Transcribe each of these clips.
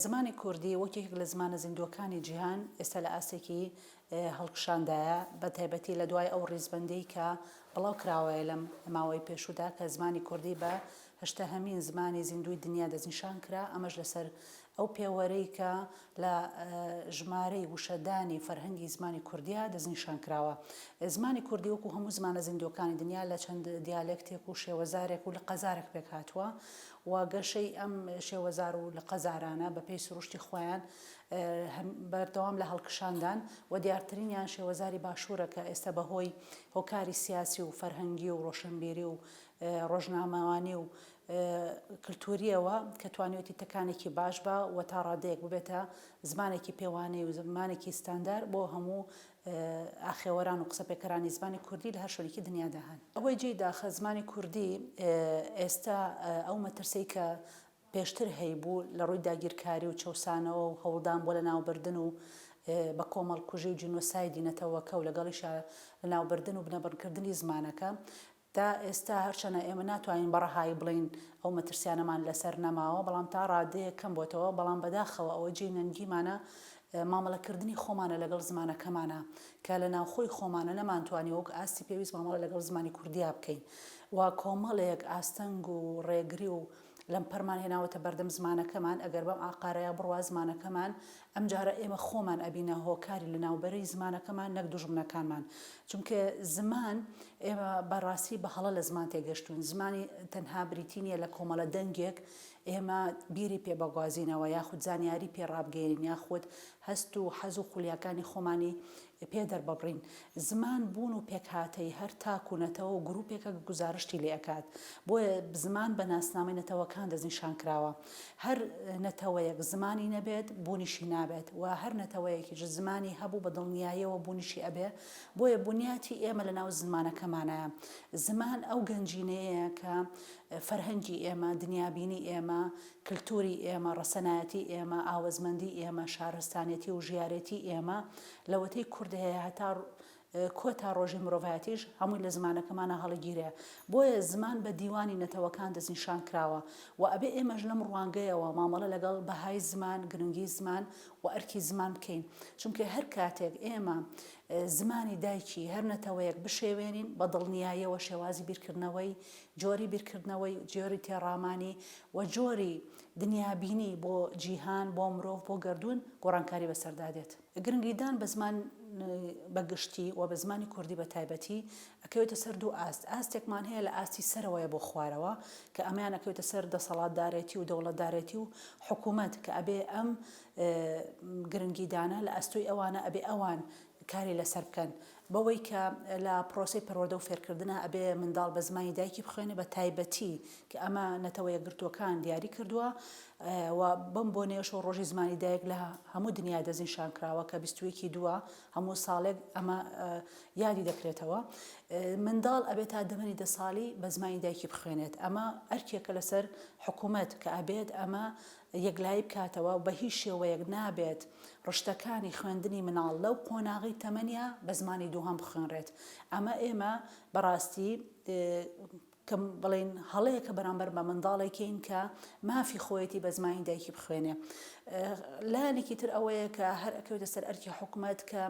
زمانی کوردی وەک یەکێک لە زمانە زیندووەکانی جیهان ئێستا لە ئاستێکی هەڵکشاندایە، بە تایبەتی لە دوای ئەو ڕیزبەندیی کە بڵاو کراوەیە لەم ماوەی پێشوودا کە زمانی کوردی بە هەشتاهەمین زمانی زیندووی دنیا دەستنیشان کرا، ئەمەش لەسەر ئەو پێوەرەی کە لە ژمارەی وشەدانی فەرهەنگی زمانی کوردیا دەستنیشان کراوە. زمانی کوردی وەکوو هەموو زمانە زیندووەکانی دنیا لە چەند دیالێکتێک و شێوەزارێک و لقەزارێک پێکهاتووە و گەشەی ئەم شێوەزار و لقە زارانە بە پێی سروشتی خۆیان بەردەوام لە هەڵکشاندان و دیارترینیان شێوەزاری باشوورە کە ئێستا بە هۆی هۆکاری سیاسی و فەرهەنگی و ڕۆشنبیری و ڕۆژنامەوانی و کلتوورییەوە کە توانیوەتی تەکانێکی باش بە و تا ڕادەیەک ببێتە زمانێکی پێوانەی و زمانێکی ستاندار بۆ هەموو ئاخێوەران و قسەپێکەرانی زمانی کوردی لە هەر شوێنێکی دنیادا هەن. ئەوەی جێی داخە زمانی کوردی ئێستا ئەو مەترسیەی کە پێشتر هەیبوو لە ڕووی داگیرکاری و چەوسانەوە و هەوڵدان بۆ لەناوبردن و بە کۆمەڵکوژی و جینۆسایدی نەتەوەکە و لەگەڵیشا لەناوبردن و بنەبڕکردنی زمانەکە تا ئێستا هەرچەنە ئێمە ناتوانین بە ڕەهایی بڵێین ئەو مەترسیانەمان لەسەر نەماوە بەڵام تا ڕادەیەک کەم بۆتەوە بەڵام بەداخەوە ئەوە جێی نەنگیمانە مامەڵە کردنی خۆمانە لەگەڵ زمانەکەمانا کە لە ناوخۆی خۆمانە نەمانتوانی وەک ئاستی پێویست مامەڵە لەگەڵ زمانی کوردیا بکەین و کۆمەڵێک ئاستەنگ و ڕێگری و لەمپەرمان هێناوەتە بەردەم زمانەکەمان، ئەگەر بەم ئاقارەیا بڕوا زمانەکەمان، ئەمجارە ئێمە خۆمان ئەبینە هۆکاری لەناوبەری زمانەکەمان نەک دوژمنەکانمان، چونکە زمان، ئێمە بە ڕاستی بە هەڵە لە زمان تێگەشتووین، زمانی تەنها بریتی نییە لە کۆمەڵە دەنگێک ئێمە بیری پێ بگوازینەوە یاخود زانیاری پێ ڕابگەیەنین یاخود هەست و حەز و خولیاکانی خۆمانی پێ دەرببڕین. زمان بوون و پێکهاتەی هەر تاک و نەتەوە و گرووپێکە کە گوزارشتی لێ ئەکات. بۆیە زمان بە ناسنامەی نەتەوەکان دەستنیشان کراوە. هەر نەتەوەیەک زمانی نەبێت، بوونیشی نابێت و هەر نەتەوەیەکیش زمانی هەبوو بە دڵنیاییەوە بوونیشی ئەبێ. بۆیە بونیاتی ئێمە لە ناو زمانەکەمانایە. زمان ئەو گەنجینەیەیە کە فەرهەنگی ئێمە، دنیابینی ئێمە، کلتوری ئێمە، ڕەسەنایەتی ئێمە، ئاوەزمەندی ئێمە، شارستانێتی و ژیارێتی ئێمە، لەوەتەی کورد هەیە هەتا کۆتا ڕۆژی مرۆڤایەتیش هەمووی لە زمانەکەمانا هەڵیگیرێ. بۆیە زمان بە دیوانی نەتەوەکان دەستنیشان کراوە و ئەبێ ئێمەش لەم ڕوانگەیەوە مامەڵە لەگەڵ بەهای زمان، گرنگی زمان و ئەرکی زمان بکەین. چونکە هەر کاتێک ئێمە زمانی دایکی هەر نەتەوەیەک بشێوێنین، بە دڵنیاییەوە شێوازی بیرکردنەوەی جۆری بیرکردنەوەی، جۆری تێڕامانی و جۆری دنیابینی بۆ جیهان، بۆ مرۆڤ، بۆ گەردوون گۆڕانکاری بەسەردا دێت. گرنگیدان بە زمان بە گشتی و بە زمانی کوردی بە تایبەتی ئەکەوێتە سەر دوو ئاست، ئاستێکمان هەیە لە ئاستی سەرەوەیە بۆ خوارەوە کە ئەمەیان ئەکەوێتە سەر دەسەڵاتدارێتی و دەوڵەتدارێتی و حکوومەت کە ئەبێ ئەم گرنگیدانە لە ئەستۆی ئەوانە ئەبێ ئەوان کاری لەسەر بکەن، بەوەی کە لە پرۆسەی پەروەردە و فێرکردنا ئەبێ منداڵ بە زمانی دایکی بخوێنێ بە تایبەتی کە ئەمە نەتەوە یەکگرتووەکان دیاری کردووە و بەم بۆنەیەشەوە ڕۆژی زمانی دایک لە هەموو دنیا دەستنیشان کراوە کە بیست و یەک ی دووە هەموو ساڵێک ئەمە یادی دەکرێتەوە منداڵ ئەبێت تا دەمەنی دە ساڵی بە زمانی دایکی بخوێنێت ئەمە ئەرکێکە لەسەر حکوومەت کە ئەبێت ئەمە یەکلایی بکاتەوە و بە هیچ شێوەیەک نابێت ڕشتەکانی خوێندنی مناڵ لەو قۆناغەی تەمەنیا بە زمانی دووهەم بخوێنرێت. ئەمە ئێمە بە ڕاستی کە بڵێین هەڵەیەکە بەرامبەر بە منداڵێکین کە مافی خۆیەتی بە زمانی دایکی بخوێنێ لایەنێکی تر ئەوەیە کە هەر ئەکەوێتە سەر ئەرکی حکوومەت کە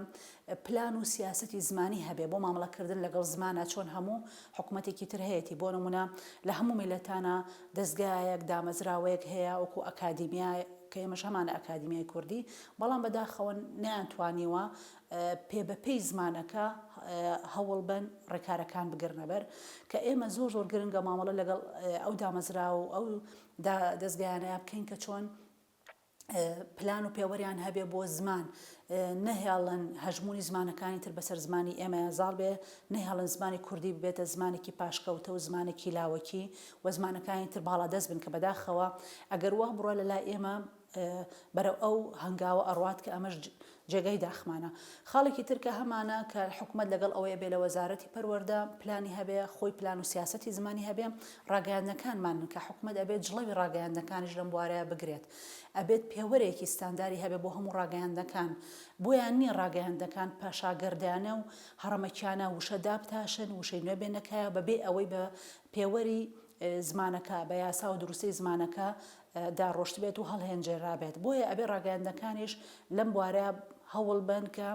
پلان و سیاسەتی زمانی هەبێ بۆ مامڵە کردن لەگەڵ زمانا چۆن هەموو حکومەتێکی تر هەیەتی بۆ نمونە لە هەموو میلەتانا دەزگایەک دامەزراوەیەک هەیە وەکو ئەکادیمیا کە ئێمەش هەمانە ئەکادیمیای کوردی بەڵام بەداخەوە نەیان توانیوە پێ بە پێی زمانەکە هەوڵ بەن ڕێکارەکان بگرنە بەر کە ئێمە زۆر زۆر گرنگە مامەڵە لەگەڵ ئەو دامەزرا و ئەو دەزگایانە بکەین کە چۆن پلان و پێوەریان هەبێ بۆ زمان، نەهێڵن هەژموونی زمانەکانی تر بەسەر زمانی ئێمەیا زاڵ بێ، نەهێڵن زمانی کوردی ببێتە زمانێکی پاشکەوتە و زمانێکی لاوەکی و زمانەکانی تر باڵادەست بن کە بەداخەوە ئەگەر وا بڕوا لەلای ئێمە بەرەو ئەو هەنگاوە ئەڕوات کە ئەمەش جێگای داخمانە خاڵێکی تر کە هەمانە کە حکومەت لەگەڵ ئەوەیە بێ لە وەزارەتی پەروەردە پلانی هەبێ خۆی پلان و سیاسەتی زمانی هەبێ ڕاگەیاندنەکانمانن کە حکومەت ئەبێت جڵەوی ڕاگەیاندنەکانیش لەم بوارەیە بگرێت ئەبێت پێوەرێکی ستانداری هەبێ بۆ هەموو ڕاگەیاندنەکان بۆیان نییە ڕاگەیاندنەکان پاشاگەردانە و هەڕەمەکیانە وشە دابتاشن وشەی نوێ بێنە کایەوە بەبێ ئەوەی بە پێوەری زمانەکە بە یاسا و دروستەی زمانەکە دا ڕۆشتبێت و هەڵهێنجێرابێت بۆیە ئەبێ ڕاگەیاندنەکانیش لەم بوارە هەوڵ بەن کە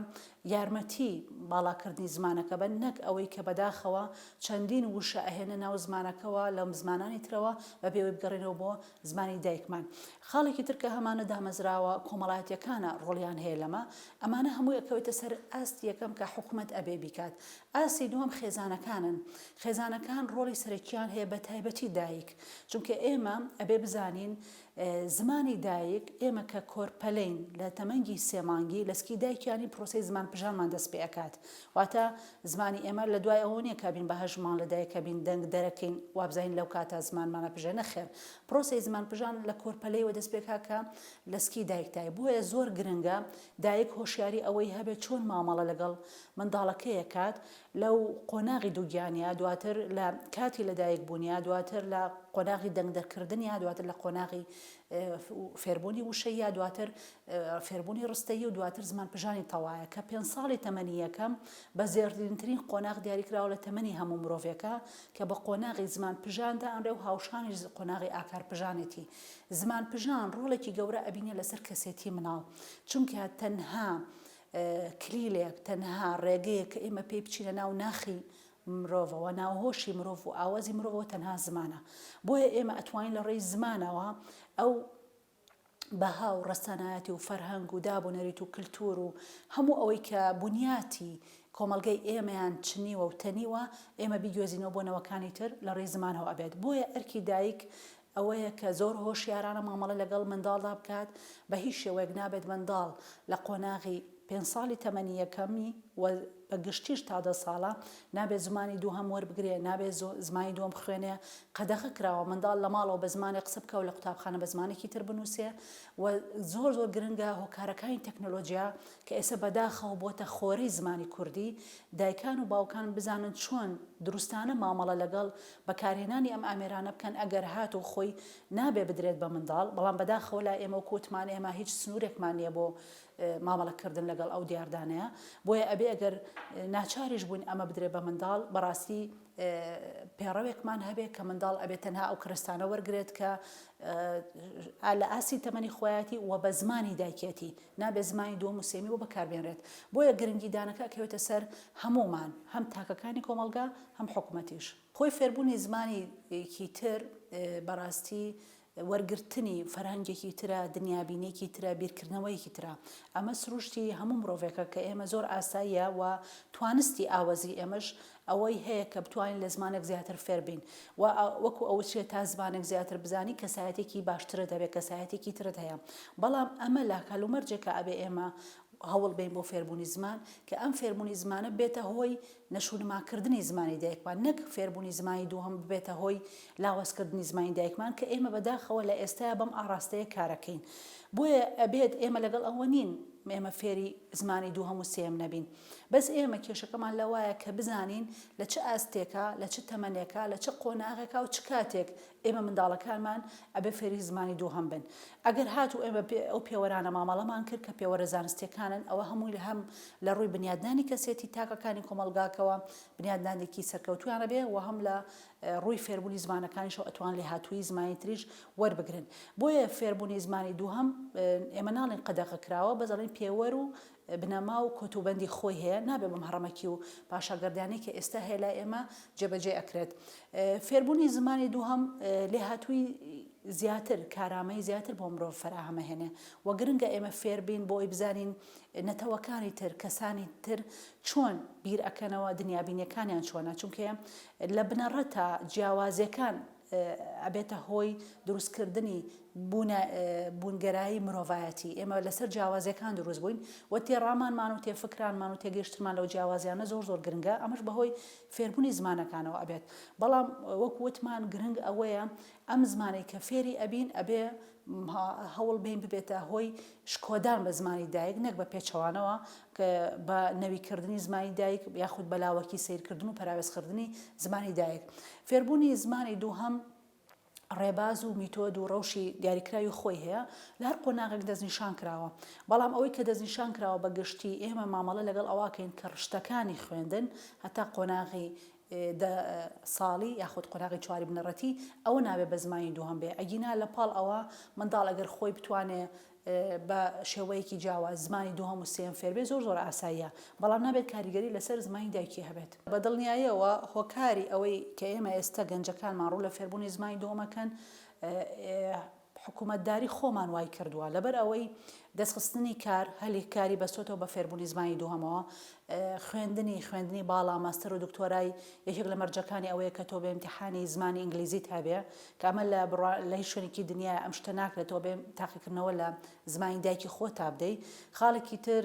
یارمەتی باڵاکردنی زمانەکە بەن نەک ئەوەی کە بەداخەوە چەندین وشە ئەهێنە ناو زمانەکەەوە لەم زمانانی ترەوە بە بێوەی بگەڕێنەوە بۆ زمانی دایکمان خاڵێکی ترکە هەمانە دامەزراوە کۆمەڵایەتەکانە ڕۆڵیان هەیە لەمە ئەمانە هەموو ئەکەوێتە سەر ئاست یەکەم کە حکوومەت ئەبێ بیکات ئاسی دووەم خێزانەکانن خێزانەکان ڕۆڵی سەرەکیان هەیە بە تایبەتی دایک چونکە ئێمە ئەبێ بزانین زمانی دایک ئێمە کە کۆرپەلەین لە تەمەنگی سێ مانگی لەسکی دایکیانی پرۆسی زمان پژانمان دەست پێ ئەکات واتە زمانی ئێمە لە دوای ئەوە نیە کابین بە هەژمان لە دایکە بین دەنگ دەرەکەین وابزانین لەو کاتە زمانمانە پژێ نەخێر پرۆسی زمان پژان لە کۆرپەلەیەوە دەست پێکا کە لەسکی دایکتای بۆیە زۆر گرنگە دایک هۆشیاری ئەوەی هەبێت چۆن مامەڵە لەگەڵ منداڵەکەیەکات لەو قۆناغی دووگیانییە، دواتر لە کاتی لەدایکبوونییە، دواتر لە قۆناغی دەنگ دەرکردنییە، دواتر لە قۆناغی فێربوونی وشەییە، دواتر فێربوونی ڕستەیی و دواتر زمانپژانی تەوایە، کە پێنج ساڵی تەمەنی یەکەم بە زێڕینترین قۆناغ دیاری کراوە لە تەمەنی هەموو مرۆڤێکە، کە بە قۆناغی زمانپژان دائەنرێ و هاوشانیش قۆناغی ئاکارپژانێتی. زمانپژان ڕۆڵێکی گەورە ئەبینێ لەسەر کەسێتی منداڵ، چونکە تەنها کلیلێک تەنها ڕێگەیە کە ئێمە پێی بچینە ناو ناخی مرۆڤەوە، ناو هۆشی مرۆڤ و ئاوەزی مرۆڤەوە تەنها زمانە. بۆیە ئێمە ئەتوانین لە ڕێی زمانەوە ئەو بەها و ڕەسەنایەتی و فەرهەنگ و داب و نەریت و کلتور و هەموو ئەوەی کە بنیاتی کۆمەڵگەی ئێمەیان چنیوە و تەنیوە ئێمە بیگوێزینەوە بۆ نەوەکانی تر لە ڕێی زمانەوە ئەبێت. بۆیە ئەرکی دایک ئەوەیە کە زۆر هۆشیارانە مامەڵە لەگەڵ منداڵدا بکات، بە هیچ شێوەیەک نابێت منداڵ لە قۆناغی پێنج ساڵی تەمەنی یەکەمی و بە گشتیش تا دە ساڵە نابێت زمانی دووهەم وەربگرێ، نابێت زمانی دووەم بخوێنێ، قەدەغە کراوە منداڵ لە ماڵەوە بە زمانێک قسە بکا و لە قوتابخانە بە زمانێکی تر بنووسێ و زۆر زۆر گرنگە هۆکارەکانی تەکنۆلۆجیا کە ئێستا بەداخەوە بۆتە خۆرەی زمانی کوردی دایکان و باوکان بزانن چۆن دروستانە مامەڵە لەگەڵ بەکارهێنانی ئەم ئامێرانە بکەن ئەگەر هاتوو خۆی نابێ بدرێت بە منداڵ بەڵام بەداخەوە لای ئێمە وەکو وتمان ئێمە هیچ سنورێکمان نیە بۆ مامەڵە کردن لەگەڵ ئەو دیاردانەیە بۆیە ئەبێ ئەگەر ناچاریش بووین ئەمە بدرێ بە منداڵ بەڕاستی پێڕەوێکمان هەبێ کە منداڵ ئەبێت تەنها ئەو کرستانە وەرگێت کە لە ئاسی تەمەنی خۆیەتی و بە زمانی دایکێتی نابێ زمانی دووەم و سێمی و بەکاربێنرێت بۆیە گرنگی دانەکە کەوێتە سەر هەمومان هەم تاکەکانی کۆمەلگا هەم حکومەتیش خۆی فێربوونی زمانی کی تر بەڕاستی وەرگرتنی فەرهەنگێکی ترە دنیابینێکی ترە بیرکردنەوەیەکی ترە ئەمە سروشتی هەموو مرۆڤێکە کە ئێمە زۆر ئاساییە و توانستی ئاوەزی ئێمەش ئەوەی هەیە کە بتوانین لە زمانێک زیاتر فێربین و وەکو ئەوچێت تا زمانێک زیاتر بزانی کەسایەتێکی باشترە دەبێت کەسایەتێکی ترت هەیە بەڵام ئەمە لە کەلومەرجێکە ئەبێ ئێمە هەوڵ بین بۆ فێربوونی زمان کە ئەم فێربوونی زمانە بێتە هۆی نەشونماکردنی زمانی دایکمان، نەک فێربوونی زمانی دووهەم ببێتە هۆی لاوازکردنی زمانی دایکمان، کە ئێمە بەداخەوە لە ئێستایا بەم ئاڕاستەیە کارەکەین. بۆیە ئەبێت ئێمە لەگەڵ ئەوە نین ئێمە فێری زمانی دووهەم و سێیەم نەبین. بەس ئێمە کێشەکەمان لەوایە کە بزانین لە چ ئاستێکا، لە چ تەمەنێکا، لە چ قۆناغێکا و چ کاتێک ئێمە منداڵەکانمان ئەبێ فێری زمانی دووهەم بن. ئەگەر هاتوو ئێمە بێ ئەو پێوەرانە مامەڵەمان کرد کە پێوەرە زانستیەکانن ئەوە هەمووی هەم لە ڕووی بنیادنانی کەسێتی تاکەکانی کۆمەڵگاکەوە بنیادنانێکی سەرکەوتوویان ئەبێ و هەم لە ڕووی فێربوونی زمانەکانیشەوە ئەتوان لێهاتوویی زمانی تریش وەربگرن بۆیە فێربوونی زمانی دووهەم ئێمە ناڵێن قەدەغە کراوە بەس ئەڵێن پێوەر و بنەما و کۆتوبەندی خۆی هەیە نابێ بەم هەڕەمەکی و پاشاگەردانەی کە ئێستا هەیە لای ئێمە جێبەجێ ئەکرێت فێربوونی زمانی دووهەم لێهاتووی زیاتر کارامەی زیاتر بۆ مرۆڤ فەراهەمە هێنێ و گرنگە ئێمە فێربین بۆی بزانین نەتەوەکانی تر کەسانی تر چۆن بیر ئەکەنەوە دنیابینیەکانیان چۆنە چونکە لە بنەڕەتە جیاوازیەکان ئەبێتە هۆی دروست کردنی بوونگەرایی مرۆڤایەتی ئێمە لەسەر جیاوازیەکان دروست بووین و تێڕامانمان و تێفکرانمان و تێگەیشتمان لەو جیاوازیانە زۆر زۆر گرنگە ئەمەش بەهۆی فێربوونی زمانەکانەوە ئەبێت بەڵام وەک وتمان گرنگ ئەوەیە ئەم زمانەی کە فێری ئەبین ئەبێ هەوڵ بین ببێتە هۆی شکۆدان بە زمانی دایک نەک بە پێچەوانەوە کە بە نەوی کردنی زمانی دایک یاخود بە لاوەکی سەیر کردن و پەراوێز خردنی زمانی دایک فێربوونی زمانی دووهەم ڕێباز و میتۆد و ڕەوشی دیاریکراوی خۆی هەیە لە هەر قۆناغێک دەستنیشان کراوە بەڵام ئەوەی کە دەستنیشان کراوە بە گشتی ئێمە مامەڵە لەگەڵ ئەواکەین کە ڕشتەکانی خوێندن هەتا قۆناغی دە ساڵی یاخود قۆناغی چواری بنەڕەتی ئەوە نابێ بە زمانی دووهەم بێ ئەگینا لە پاڵ ئەوە منداڵ ئەگەر خۆی بتوانێ بە شێوەیەکی جیاواز زمانی دووهەم و سێیەم فێر بێ زۆر زۆر ئاساییە بەڵام نابێت کاریگەری لەسەر زمانی دایکی هەبێت. بە دڵنیاییەوە هۆکاری ئەوەی کە ئێمە ئێستە گەنجەکانمان ڕوو لە فێربوونی زمانی دووهەم ئەکەن، حکومەتداری خۆمان وای کردووە لەبەر ئەوەی دەستخستنی کار هەلی کاری بەستۆتەوە بە فێربوونی زمانی دووهەمەوە خوێندنی خوێندنی باڵا ماستەر و دکتۆرای یەکێک لە مەرجەکانی ئەوەیە کە تۆ بە امتحانی زمانی ئینگلیزیت هەبێ کە ئەمە لە لە هیچ شوێنێکی دنیا ئەم شتە ناکرێتەوە بێ تاقیکردنەوە لە زمانی دایکی خۆ تا بدەی خاڵێکی تر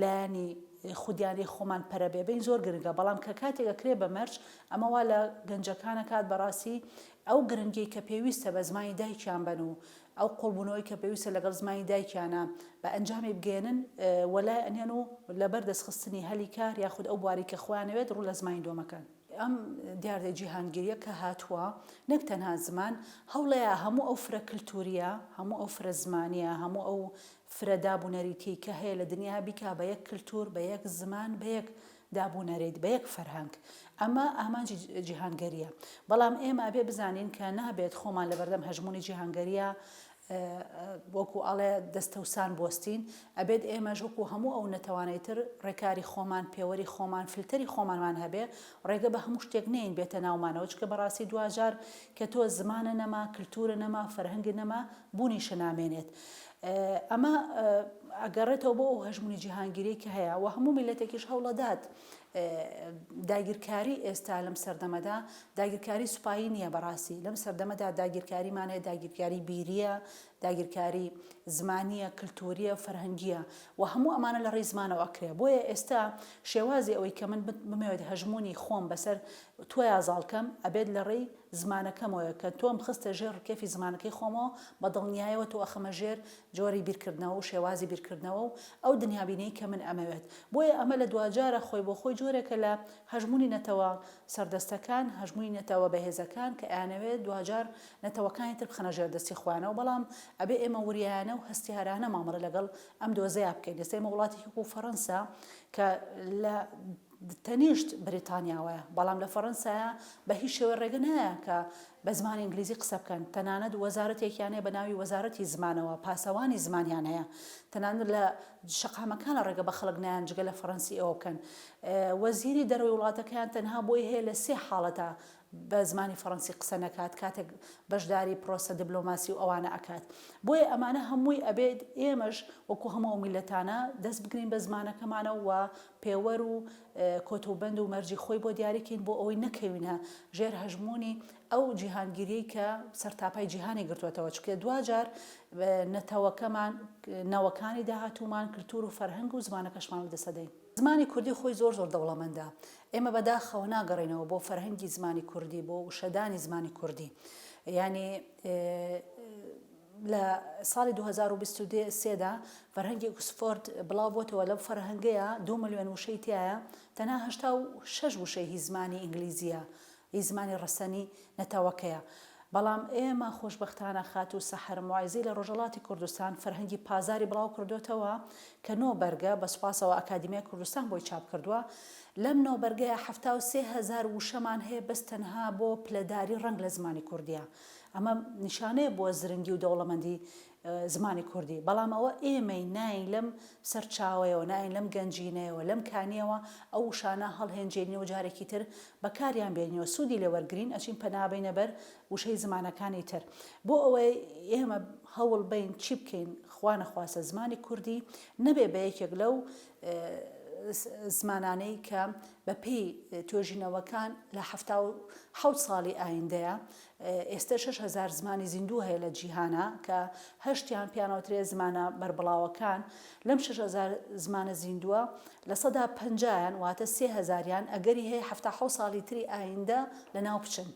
لایەنی خودیانەی خۆمان پەرە بێ بین زۆر گرنگە بەڵام کە کاتێک ئەکرێ بە مەرج ئەمە وا لە گەنجەکان ئەکات بەڕاستی ئەو گرنگیەی کە پێویستە بە زمانی دایکیان بەن و ئەو قوڵبوونەوەی کە پێویستە لەگەڵ زمانی دایکیانە بە ئەنجامی بگەێنن وەلای ئەنێن و لەبەر دەستخستنی هەلی کار یاخود ئەو بواری کە خۆیانەوێت ڕوو لە زمانی دۆمەکەن. ئەم دیاردە جیهانگیریە کە هاتووە نەک تەنها زمان هەوڵەیە هەموو ئەو فرە کلتوریە هەموو ئەو فرە زمانیە هەموو ئەو فرە داب و نەریتی کە هەیە لە دنیا بیکا بە یەک کلتور بە یەک زمان بە یەک داب و نەریت بە یەک فەرهەنگ ئەمە ئامانجی جیهانگەریە بەڵام ئێمە ئەبێ بزانین کە نابێت خۆمان لەبەردەم هەژمونی جیهانگەریە وەکو ئەڵێ دەستەوسان بۆستین ئەبێت ئێمەش وەکو هەموو ئەو نەتەوانەی تر ڕێکاری خۆمان پێوەری خۆمان فلتەری خۆمانمان هەبێ ڕێگە بە هەموو شتێک نین بێتە ناومانەوە چکە بەڕاستی دواجار کە تۆ زمانە نەما کللتورە نەما فەرهەنگ نەما بوونیشە نامێنێت ئەمە ئەگەڕێتەوە بۆ ئەو هەژمونی جیهانگیری کە هەیە و هەموو میلەتێکیش هەوڵەدات داگیرکاری ئێستا لەم سەردەمەدا داگیرکاری سوپایی نییە بەڕاستی لەم سەردەمەدا داگیرکاریمانەیە داگیرکاری بیریە داگیرکاری زمانیە کللتوریە فەرهەنگیە و هەموو ئەمانە لە ڕێزمانەوە ئەکرێ بۆیە ئێستا شێوازی ئەوەی کە من بمەوێت هەژمونی خۆم بەسەر تۆیا زاڵکەم ئەبێت لە ڕێی زمانەکەمەوەیە کە تۆم خستە ژێر ڕکێفی زمانەکەی خۆمەوە بە دڵنیایەوە تۆ ئەخەمە ژێر جۆری بیرکردنەوە و شێوازی بیرکردنەوە و ئەو دنیابینیەی کە من ئەمەوێت بۆیە ئەمە لە دواجارە خۆی بۆ خۆی جۆرێکە لە هەژموونی نەتەوە سەردەستەکان هەژموونی نەتەوە بەهێزەکان کە ئەیانەوێت دواجار نەتەوەکانی تر بخەنە ژێر دەستی خۆیانەوە بەڵام ئەبێ ئێمە وریایانە و هەستیارانە مامەڵە لەگەڵ ئەم دۆزەیا بکەین ئێستا ئێمە وڵاتێکی وەکو فەڕەنسا کە لە تەنیشت بریتانیاوەیە، بەڵام لە فەرەنسایە بە هیچ شێوەی ڕێگە نایە کە بە زمانی ئینگلیزی قسە بکەن، تەنانەت وەزارەتێکیان هەیە بە ناوی وەزارەتی زمانەوە پاسەوانی زمانیان هەیە، تەنانەت لە شەقامەکانە ڕێگە بە خەڵک نایەن جگە لە فەرەنسی ئەوە بکەن. وەزیری دەرەوەی وڵاتەکەیان تەنها بۆی هەیە لە سێ حاڵەتە بە زمانی فەڕەنسی قسە نەکات کاتێک بەشداری پرۆسە دبلۆماسی و ئەوانە ئەکات بۆیە ئەمانە هەمووی ئەبێت ئێمەش وەکو هەموو ئەو میلەتانە دەست بگرین بە زمانەکەمانە و پێوەر و کۆت و بەند و مەرجی خۆی بۆ دیاریکەین بۆ ئەوەی نەکەوینە ژێر هەژمونی ئەو جیهانگیریی کە سەرتاپای جیهانی گرتووەتەوە چکە دواجار نەتەوەکەمان نەوەکانی داهاتوومان کللتور و فەرهەنگ و زمانەکەشمان و دەسەدەین. زمانی کوردی خۆی زۆر زۆر دەوڵەمەندە. ئێمە بە داخەوە ناگەڕێینەوە بۆ فەرهەنگی زمانی کوردی، بۆ وشەدانی زمانی کوردی. یانی لە ساڵی دوو هەزار و بیست و سێ دا فەرهەنگی ئوکسفۆرد بڵاو بۆتەوە، لەو فەرهەنگەیە دوو ملیۆن وشەی تیایە، تەنها هەشتا و شەش وشەی هی زمانی ئینگلیزییە. ی زمانی ڕەسەنی نەتەوەکەیە. بەڵام ئێمە خۆشبەختانە خاتوو سەحەر موعزی لە ڕۆژەڵاتی کوردستان فەرهەنگی پازاری بڵاو کردۆتەوە کە نۆ بەرگە، بە سوپاسەوە ئەکادیمیای کوردستان بۆی چاپ کردووە. لەم نۆ بەرگەیە حەفتا و سێ هەزار وشەمان هەیە بەس تەنها بۆ پلەداری ڕەنگ لە زمانی کوردییە. ئەمە نیشانەیە بۆ زرنگی و دەوڵەمەندی زمانی کوردی، بەڵام ئەوە ئێمەی ناین لەم سەرچاوەیەوە، ناین لەم گەنجینەیەوە، لەم کانییەوە ئەو وشانە هەڵهێنجێنین و جارێکی تر بەکاریان بێنین و سوودی لێ وەرگرین، ئەچین پەنا بەینە بەر وشەی زمانەکانی تر. بۆ ئەوەی ئێمە هەوڵ بەین چی بکەین؟ خوا نەخواستە زمانی کوردی نەبێ بە یەکێک لەو زمانانەی کە بەپێی توێژینەوەکان لە حەفتا و حەوت ساڵی ئایندەیە ئێستە شەش هەزار زمانی زیندوو هەیە لە جیهانا کە هەشتیان پێیان ئەوترێ زمانە بەربڵاوەکان، لەم شەش هەزار زمانە زیندووە لە سەدا پەنجایان واتە سێ هەزاریان ئەگەری هەیە حەفتا حەوت ساڵی تری ئایندە لە ناو بچن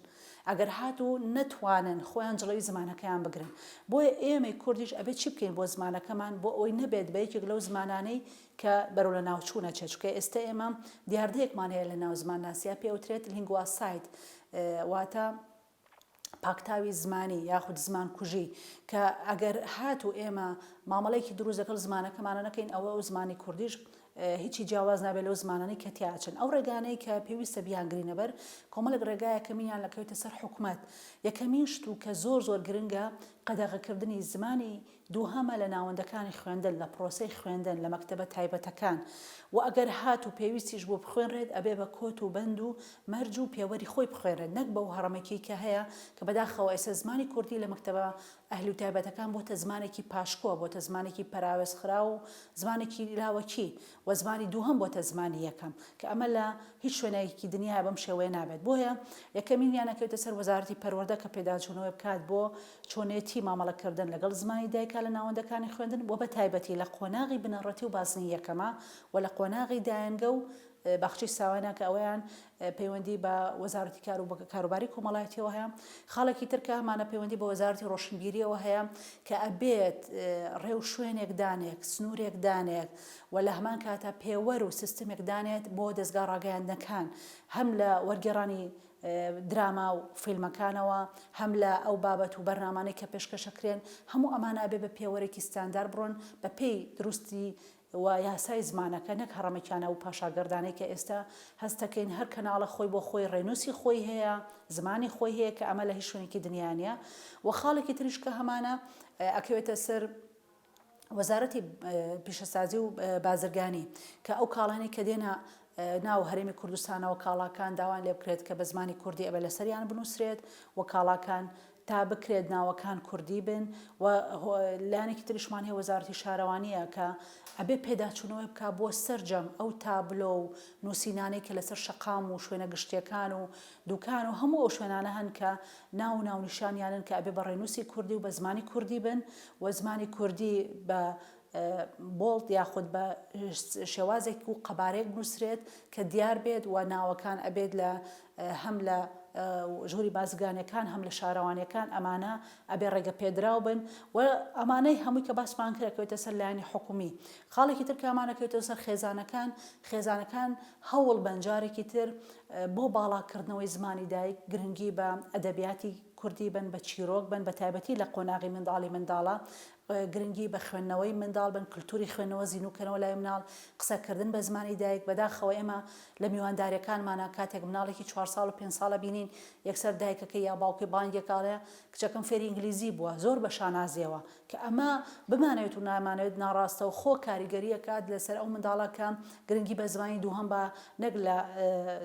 ئەگەر هاتوو نەتوانن خۆیان جڵەوی زمانەکەیان بگرن بۆیە ئێمەی کوردیش ئەبێ چی بکەین بۆ زمانەکەمان بۆ ئەوەی نەبێت بە یەکێک لەو زمانانەی کە بەرەو لەناوچوونە چێت، چونکە ئێستە ئێمە دیاردەیەکمان هەیە لەناو زمانناسییە پێی ئەوترێت لینگواساید واتە پاکتاوی زمانی یاخود زمان کوژی کە ئەگەر هات و ئێمە مامەڵێکی دروست لەگەڵ زمانەکەمانە نەکەین ئەوە ئەو زمانی کوردیش هیچی جیاواز نابێت لەو زمانانی کە تیاچن ئەو ڕێگانەی کە پێویستە بیان گرینەبەر کۆمەلک ڕێگایەکە مینیان لەکەوتە سەر حکومت یەکەمین شت و کە زۆر زۆر گرنگە قەدەغەکردنی زمانی دووهەمە لە ناوەندەکانی خوێندن لە پرۆسەی خوێندن لە مەکتەبە تایبەتەکان و ئەگەر هاتوو پێویستیش بوو بخوێنرێت ئەبێ بە کۆت و بەند و مەرج و پێوەری خۆی بخوێنرێت نەک بەو هەڕەمەکیی کە هەیە کە بەداخەوە ئێستا زمانی کوردی لە مەکتەبە ئەهلی و تایبەتەکان بۆتە زمانێکی پاشکۆ بۆتە زمانێکی پەراوێزخراو و زمانێکی لاوەکی و زمانی دووهەم بۆتە زمانی یەکەم کە ئەمە لە هیچ شوێنێکی دنیایا بەم شێوەیە نابێت بۆیە یەکەمینیان ئەکەوێتە سەر وەزارەتی پەروەردە کە پێداچوونەوەی بکات بۆ چۆنێتی مامەڵە کردن لەگەڵ زمانی دایکا لە ناوەندەکانی خوێندن و بەتایبەتی لە قۆناغی بنەڕەتی و بازنەی یەکەما و لە قۆناغی دایەنگە و باخچەی ساواینا کە ئەوەیان پەیوەندی بە وەزارەتی کار و کاروباری کۆمەڵایەتیەوە هەیە خاڵێکی ترکە ئەمانە پەیوەندی بە وەزارەتی ڕۆشنبیریەوە هەیە کە ئەبێت ڕێو شوێنێک دانێک سنوورێک دانێک و لە هەمان کاتە پێوەر و سیستمێک دانێت بۆ دەستگا ڕاگەیاندنەکان هەم لە وەرگێڕانی دراما و فیلمەکانەوە هەم لە ئەو بابەت و بەرنمانەی کە پێشکەشەکرێن هەموو ئەمانە ئەبێ بە پێوەرێکی ستاندار بڕۆن بە پێی دروستی و یاسای زمانەکە نەک هەڕەمەکیانە و پاشاگەردانەی کە ئێستا هەست دەکەین هەر کەناڵە خۆی بۆ خۆی ڕێنووسی خۆی هەیە زمانی خۆی هەیە کە ئەمە لە هیچ شوێنێکی دنیا نیە و خاڵێکی تریش کە هەمانە ئەکەوێتە سەر وەزارەتی پیشەسازی و بازرگانی کە ئەو کاڵانی کە دێنە ناو هەرێمی کوردستانەوە کاڵاکان داوان لێ بکرێت کە بە زمانی کوردی ئەبێ لەسەریان بنووسرێت و کاڵاکان تا بکرێت ناوەکان کوردی بن و لایەنێکی تریشمان هەیە وەزارەتی شارەوانیە کە ئەبێ پێداچوونەوەی بکا بۆ سەرجەم ئەو تابلۆ و نووسینانەی کە لەسەر شەقام و شوێنە گشتیەکان و دوکان و هەموو ئەو شوێنانە هەن کە ناو ناونیشانیانن کە ئەبێ بە ڕێنووسی کوردی و بە زمانی کوردی بن و زمانی کوردی بە بۆڵد یاخود بە شێوازێک و قەبارەیەک بنووسرێت کە دیار بێت و ناوەکان ئەبێت لە هەم لە ژووری بازرگانەکان هەم لە شارەوانیەکان ئەمانە ئەبێ ڕێگە پێدراو بن و ئەمانەی هەمووی کە باسمان کرەکەوێتە سەر لایانی حکومی خاڵێکی تر کامانەکەوێتەوە سەر خێزانەکان خێزانەکان هەوڵ بەنجارێکی تر بۆ باڵاکردنەوەی زمانی دایک گرنگی بە ئەدەبیاتی کوردی بن بە چیرۆک بن بە تایبەتی لە قۆناغی منداڵی منداڵە گرنگی بە خوێندنەوەی منداڵ بن، کلتوری خوێندنەوە زینوو کەنەوە لای مناڵ، قسە کردن بە زمانی دایک، بەداخەوە ئێمە لە میوانداریەکانمانا کاتێک مناڵێکی چوار ساڵ و پێنج ساڵە بینین یەکسەر دایکەکەی یا باوکی بانگێک ئەڵێ کچەکەم فێری ئینگلیزی بووە زۆر بە شانازیەوە کە ئەمە بمانەوێت و نامانەوێت ناڕاستەوخۆ کاریگەری ئەکات لەسەر ئەو منداڵە کە گرنگی بە زمانی دووهەم با نەک لە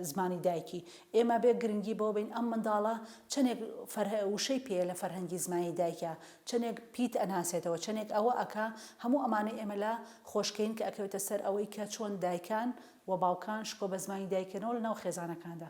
زمانی دایکی ئێمە بێ گرنگی بەوە بین ئەم منداڵە چەنێک فەرهە وشەی پێ لە فەرهەنگی زمانی دایکە چەنێک پیت ئەناسێتەوە چەنێک ئەوە ئەکا هەموو ئەمانەی ئێمە لە خۆش کەین کە ئەکەوێتە سەر ئەوەی کە چۆن دایکان و باوکان شکۆ بە زمانی دایک کەنەوە لە ناو خێزانەکاندا.